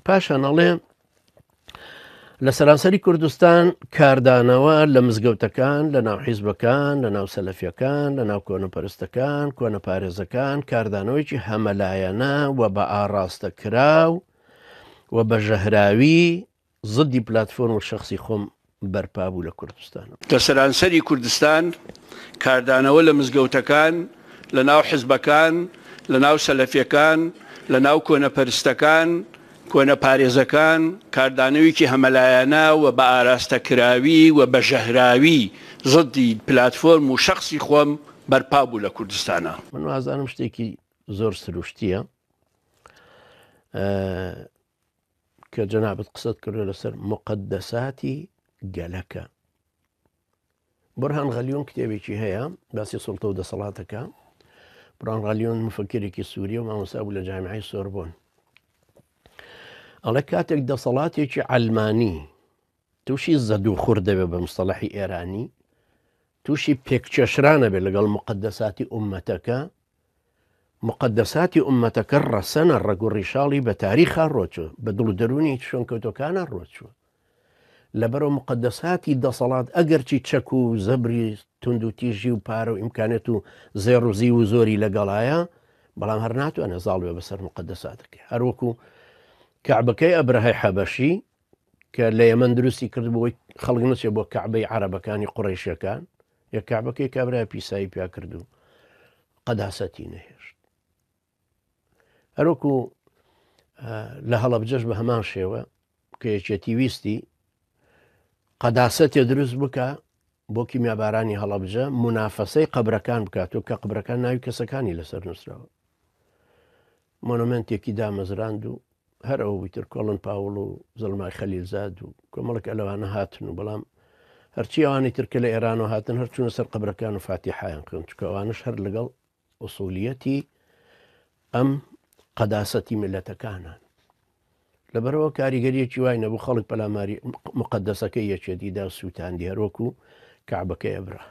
پاشان ئەڵێ لە سەرانسەری کوردستان کاردانەوە لە مزگەوتەکان لە ناو حیزبەکان لە ناو سەلەفیەکان لە ناو کۆنەپەرستەکان کۆنە پارێزەکان کاردانەوەیکی هەمەلایەنە و بە ئاڕاستە کراو و بە ژەهراوی زدی پلتفۆرم و شخصی خۆم بەرپا بوو لە کوردستان. لە سەرانسەری کوردستان کاردانەوە لە مزگەوتەکان، لە ناو حزبەکان، لە ناو سەلەفیەکان، لە ناو کۆنە پەرستەکان، کۆنە پارێزەکان، کاردانەویکی هەمەلایەنە و بە ئاراستە کراوی و بە ژەهراوی زدی پلاتفۆرم و شەخسی خۆم بەرپا بوو لە کوردستانا. من وازانم شتێکی زۆر سروشتیە. کە جەنابت قسەت کردو لەسەر مقدەساتی گەلەکە بڕهان غەلیۆن کتێبێکی هەیە باسی سڵتە و دەسەڵاتەکە بڕان غەلیۆن مفکرێکی سووریە و مامۆسا بوو لە جامعی سۆربۆن ئەڵێ کاتێک دەسەڵاتێکی ئەلمانی تووشی زەدو خور دەبێت بە مستەڵحی ئێرانی تووشی پێککێشران ئەبێت لەگەڵ موقەدەساتی ئوممەتەکە، موقەدەساتی ئوممەتەکە ڕەسەنە، ڕەگ و ڕیشاڵی بە تاریخا ڕۆچووە، بە دڵ و دەروونی شوێنکەوتووەکانا ڕۆچووە. لەبەرئەوە موقەدەساتی دەسەڵات ئەگەرچی چەک و زەبری توندوتیژی و پارە و ئیمکانیەت و زێڕ و زیو و زۆری لەگەڵایە، بەڵام هەر ناتوانێت زاڵ بێت بەسەر موقەدەساتەکەی. هەروەکو کەعبەکەی ئەبرەهەی حەبەشی کە لە یەمەن دروستی کردبوو خەڵک نەچێ بۆ کەعبەی عربەکانی قڕیشەکان یە کابەکەی کابرای پیسایی پیا کردو قەداسەتی نەهێشت هەروەکو لە هەڵبجەش بە هەمان شێوە کە یەکێتی ویستی قەداسەتێ دروست بکە بۆ کیمیابارانی هەڵەبجە منافەسەی قەبرەکان بکات و کە قبرەکان ناوی کەسەکانی لەسەر نووسراوە مۆنۆمنتێکی دامەزراند و هەر ئەو ویتر کۆڵن پاوڵ و زڵمای خەلیلزاد و کۆمەڵک ئەلەوانە هاتن و بەڵام هەرچی ئەوانی ترکە لە ئێران و هاتن هەرچوونە سەر قبرەکان و فاتی حیان خوێن چکەوانش هەر لەگەڵ ئوسولیەتی ئەم قەداسەتی میلەتەکانە. لەبەرەوە کاریگەریەکی وای نەبوو خەڵک پەلاماری مقدەسەکەی یەکێتیدا سووتاندی هەرۆک و کابەکەی ئەبرا.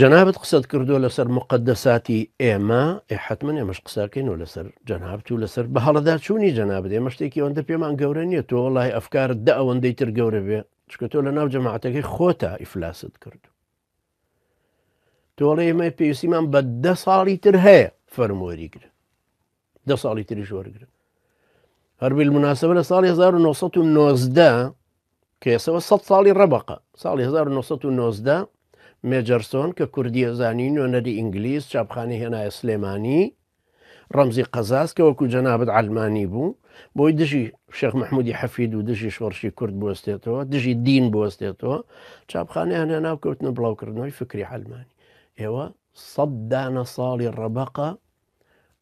جەنابەت قسەت کردووە لەسەر مقدەساتی ئێمە حتممە ئێمەش قساکەین و لەسەر جەنابت و لەسەر بە هەڵەدا چوونی جەنابێ ئێمە شتێکی ئەوەندە پێمان گەورە نیە تۆ وڵی ئەفکارت دە ئەوەندەی تر گەورە بێ چکە تۆ لە ناو جەماعاتەکەی خۆتا ئیفلاست کردو تۆڵی ئمە پێویستیمان بە دە ساڵی تر هەیە فەرمۆری گرە دە ساڵی تری شۆرگرە هەربیل مناسبە لە ساڵی 1990 کێسەوە سە ساڵی ڕەبقە ساڵی 1990 مێجەرسۆن کە کوردیە زانین و نەری ئینگلیس چاپخانی هێنایە سلێمانی ڕەمزی قەزاز کە وەکو جەنابت عەلمانی بوو بۆی دژی شێخ مححمودی حەفید و دژی شۆڕشی کورد بستێتەوە دژی دین بستێتەوە چاپخانیان هێنا و کەوتنە بڵاوکردنەوەی فکری عەلمانی ئێوە سەددانە ساڵی ڕەبقە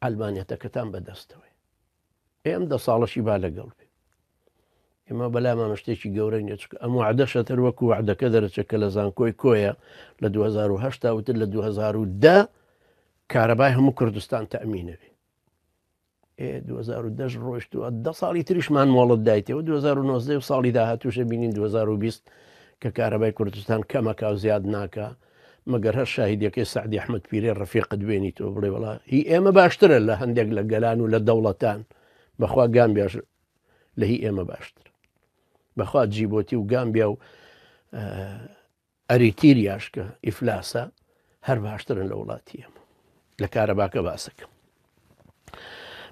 ئەلمانەتەکەتان بەدەستەوەی ئێ ئەم دە ساڵەشی با لەگەڵ بێ ئێمە بەلامانە شتێکی گەورە نیە چکە ئەم وعدەشە تر وەکو وعدەکە دەرەچە کە لە زانکۆی کۆیە لە 2010 وتر لە 2010 کارەبای هەموو کوردستان تەمینەوێ 2010 ڕۆشتووە دە ساڵی تریشمان مۆڵت دایتەوە 2009 ساڵی داهاتوشە بینین 2020 کە کارەبای کوردستان کەمەکە و زیاد ناکە مەگەر هەر شاهیدەکەی سەعدی ئەحمەد پیرەی ڕەفیقت بێنیتەوە بڵێ وڵا هی ئێمە باشترە لە هەندێک لە گەلان و لە دەوڵەتان بەخوا گام بێژ لە هی ئێمە باشتر بەخوا جیبۆتی و گامبیا و ئەریتیریاشکە ئیفلاسە هەر باشترن لە وڵاتی ئێمە لە کارەباکە باسەکەم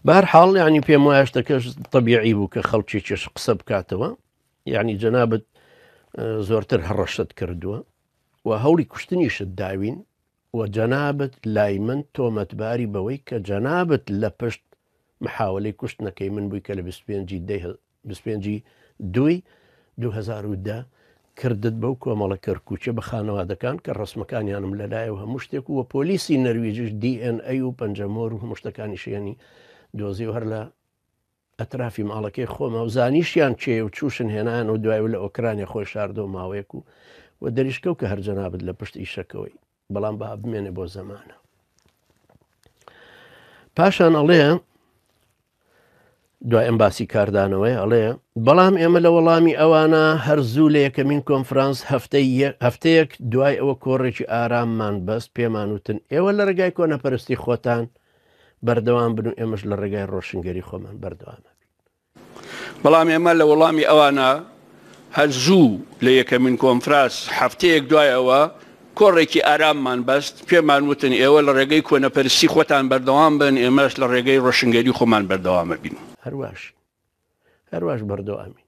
بار حاڵ ینی پێم وایە شتەکەش طبیعی بوو کە خەڵکی چێش قسە بکاتەوە یعنی جەنابەت زۆرتر هەڕەشت کردووە و هەوڵی کوشتنیشت داوین و جەنابت لای من تۆمەتباری بەوەی کە جەنابت لە پشت محاوەلەی کوشتنەکەی من بووی کە لە بیست و پێنج ی دەی بیست و پێنج ی دووی دوو هەزار و دە کردت بەو کۆمەڵە کەرکووکیە بە خانەوادەکان کە ڕەسمەکانیانم لەلایە و هەموو شتێک و وە پۆلیسی نەرویجیش دی ئێن ئەی و پەنجەمۆر و هەموو شتەکانیشیانی دۆزی و هەر لە ئەترافی ماڵەکەی خۆما و زانیشیان کێیە و چووشن هێنایانەوە دوای و لە ئۆکرانیا خۆی شاردەوە ماوەیەک و و دەریشکەو کە هەر جەنابت لە پشت ئیشەکەوەی بەڵام با بمێنێ بۆ زەمانە پاشان ئەڵێ دوای ئەم باسی کاردانەوەی ئەڵێ بەڵام ئێمە لە وەڵامی ئەوانە هەر زوو لە یەکەمین کۆنفرانس هەفتەی هەفتەیەک دوای ئەوە کۆڕێکی ئاراممان بەست پێمان وتن ئێوە لە ڕێگای کۆنەپەرستی خۆتان بەردەوام بن و ئێمەش لە ڕێگای ڕۆشنگەری خۆمان بەردەوام نەبین بەڵام ئێمە لە وەڵامی ئەوانە هەر زوو لە یەکەمین کۆنفراس هەفتەیەک دوای ئەوە کۆڕێکی ئاراممان بەست پێمان وتن ئێوە لە ڕێگەی کۆنەپەرسی خۆتان بەردەوام بن ئێمەش لە ڕێگەی ڕۆشنگەری خۆمان بەردەوامە بین هەرواش هەرواش بەردەوامی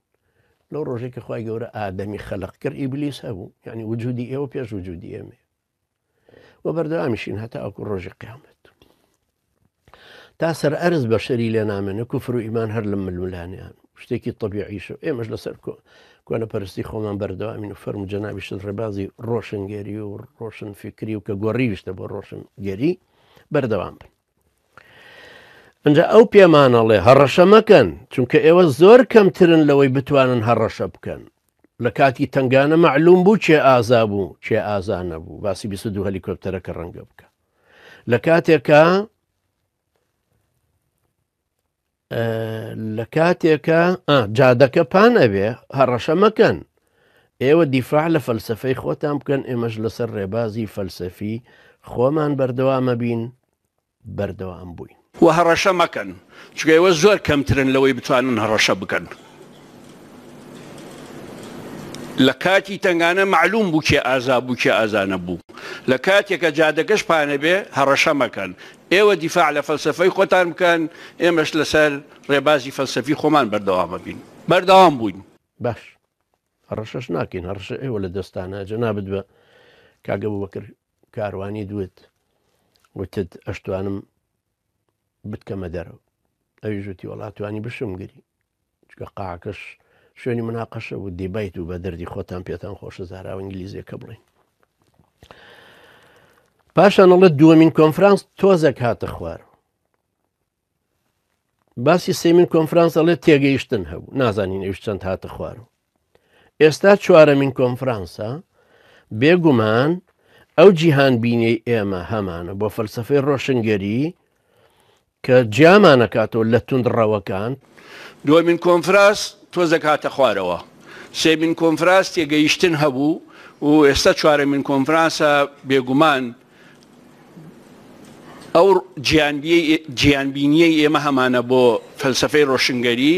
لەو ڕۆژێکی خی گەورە ئادەمی خەلق کرد ئیبلیس هەبوو یعنی وجودی ئێوە پێش وجودی ئێمە و بەردەوامیشین هەتاوەکو ڕۆژی قیامەت تا سەر ئەرز بەشەری لێ نامێنە کوفر و ئیمان هەر لە ململانیان شتێکی طبیعیش و ئێمەش لەسەر کۆ کۆنە پەرستی خۆمان بەردەوامین و فەرم جەنابیشت ڕێبازی ڕۆشنگەری و ڕۆشن فکری و کە گۆڕیویشتە بۆ ڕۆشنگەری بەردەوام بن ئەجا ئەو پێمانەڵێ هەڕەشە مەکەن چونکە ئێوە زۆر کەمترن لەوەی بتوانن هەڕەشە بکەن لە کاتی تنگانە معلوم بوو چێ ئازا بوو چێ ئازا نەبوو باسی 22 هەلیکۆپتەرەکە ڕەنگە بکە لە کاتێکە لە کاتێکە جادەکە پان ئەبێ هەڕەشە مەکەن ئێوە دیفاع لە فەلسفەی خۆتان بکەن ئێمەش لەسەر ڕێبازی فەلسفی خۆمان بەردەوامە بین بەردەوام بووین و هەڕەشە مەکەن چونکە ئێوە زۆر کەمترن لەوەی بتوانن هەڕەشە بکەن لە کاتی تنگانە معلوم بوو کێ ئازا بوو کێ ئازانە بوو لە کاتێکە جادەکەش پانەبێ هەڕەشە مەکەن ئێوە دیفاع لە فەلسەفەی خۆتان بکەن، ئێمەش لەسەر ڕێبازی فەلسەفی خۆمان بەردەوامبین. بەردەوام بووین. باش هەڕەشەش ناکەین، هەڕەشە ئێوە لە دەستتانە، جەنابت بە کاک ئەبوبەکر کاروانی دوت، وتت ئەشتوانم بتکەمە دەرەوە، ئەویش وتی وەڵا توانی بشمگری. چونکە قاعەکەش شوێنی مناقەشە و دیبەیت و بە دەردی خۆتان پێتان خۆشە زاراوە ئینگلیزیەکە بڵین پاشان ئەڵە دووەمین کۆنفرانس تۆزەک هاتە خوار باسی سێمین کۆنفرانس ئەڵێ تێگەیشتن هەبوو نازانین ئەوش چەند هاتە خوارەوە ئێستا چوارەمین کۆنفرانسە، بێگومان ئەو جیهانبینیەی ئێمە هەمانە بۆ فەلسفەی ڕۆشنگەری کە جیامانەکاتەوە لە توند ڕەوەکان. دووەمین کۆنفراس تۆزەک هاتە خوارەوە، سێمین کۆنفراس تێگەیشتن هەبوو و ئێستا چوارەمین کۆنفرانسە بێگومان ئەو جیهانبینییەی ئێمە هەمانە بۆ فەلسەفەی ڕۆشنگەری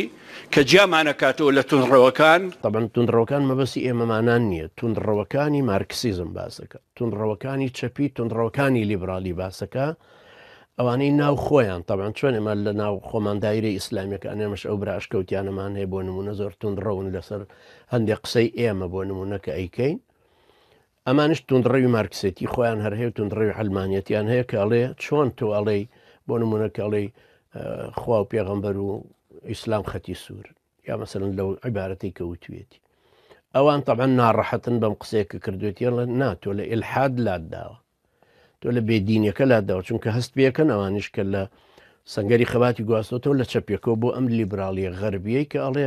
کە جیامانەکاتەوە لە توندڕەوەکان. تەبەن توندڕەوەکان مەبەستی ئێمەمانان نییە، توندڕەوەکانی مارکسیزم باس دەکا، توندڕەوەکانی چەپی، توندڕەوەکانی لیبراڵی باس دەکا، ئەوانەی ناو خۆیان، تەبەن چۆن ئێمە لە ناو خۆمان دایرەی ئیسلامیەکان ئێمەش ئەو برا ئەشکەوتیانەمان هەیە بۆ نمونە زۆر توندڕەون لەسەر هەندێک قسەی ئێمە بۆ نمونە کە ئەیکەین. ئەمانیش توندڕەوی مارکسێتی خۆیان هەر هەیە توندڕەوی عەلمانیەتیان هەیە کە ئەڵێ چۆن تۆ ئەڵێی بۆ نمونە کە ئەڵێی خوا و پێغەمبەر و ئیسلام خەتی سوور یا مەسەرن لەو عیبارەتی کە وتوێتی ئەوان تەبەن ناڕەحەتن بەم قسێکە کردوێتیان لە ناتۆ لە ئلحاد لات داوە تۆ لە بێدینەکە لا داوە چونکە هەست پێکەن ئەوانیش کە لە سنگەری خەباتی گواستۆتەوە لە چەپێکەوە بۆ ئەم لیبراڵیە غەربیەی کە ئەڵێ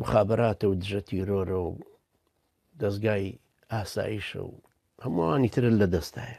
مخابراتە و دژە تیرۆرە و دەزگای ئاسایشە و هەمووانی ترە لە دەستایە